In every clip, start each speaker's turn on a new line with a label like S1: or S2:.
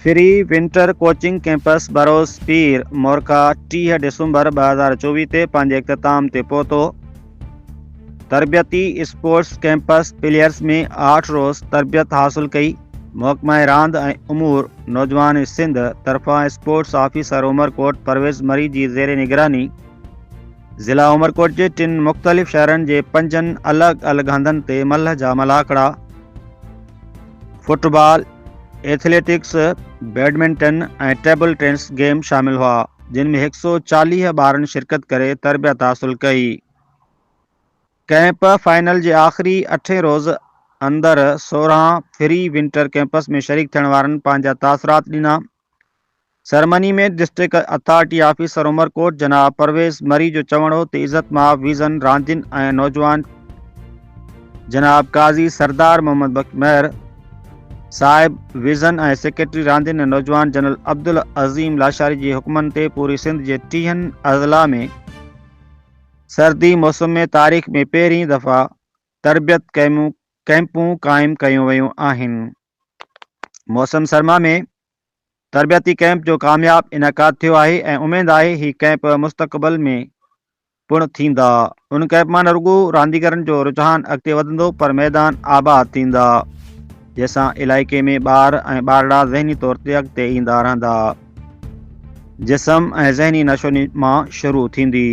S1: Free winter coaching camps بروز پير مورڪا ٽيهه ڊسمبر ٻه هزار چوويهه تي پنهنجي اختتام تي پهتو تربيتي اسپورٽس ڪيمپس پليئرس ۾ آٺ روز تربيت حاصل ڪئي محڪمه راند ۽ امور نوجوان سنڌ طرفان اسپورٽس آفيسر عمرڪوٽ پرويز مري جي زير نگراني ضلع عمرڪوٽ جي ٽن مختلف شهرن جي پنجن الڳ الڳ هنڌن تي ملهه جا ملاکڙا football athletics badminton ۽ table tennis game شامل هئا جن ۾ هڪ سؤ چاليهه ٻارن شرڪت ڪري تربيت حاصل ڪئي. ڪئمپ فائنل جي آخري اٺين روز اندر سورهن فري ونٽر ڪئمپس ۾ شريڪ ٿيڻ وارن پنهنجا تاثرات ڏنا. Ceremony ۾ district authority officer Umerkot جناب پرويز مري جو چوڻ هو ته عزت مآب ويزن راندين ۽ نوجوان جناب قاضي سردار محمد بخش مهر صاحب ويزن ۽ سيڪريٽري راندين ۽ نوجوان جنرل عبدالعظيم لاشاري جي حڪمن تي پوري سنڌ جي ٽيهن اضلاع ۾ سردي موسم ۾ تاريخ ۾ پهرين دفعا تربيت ڪيمون ڪئمپون قائم ڪيون ويون آهن. موسم سرما ۾ تربيتي ڪئمپ جو ڪامياب انعقاد ٿيو آهي ۽ اميد آهي هي ڪئمپ مستقبل ۾ پڻ ٿيندا ان ڪئمپ مان نه رڳو رانديگرن جو رجحان اڳتي وڌندو پر ميدان آباد ٿيندا جنهن سان علائقي ۾ ٻار ۽ ٻارڙا ذهني طور تي اڳتي ايندا رهندا جسم ۽ ذهني نشو مان شروع ٿيندي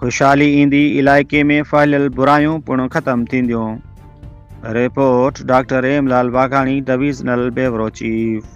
S1: خوشحالي ايندي علائقي ۾ ڦهليل برايون پڻ ختم ٿينديون report doctor Ram Lal Vagani divisional bureau chief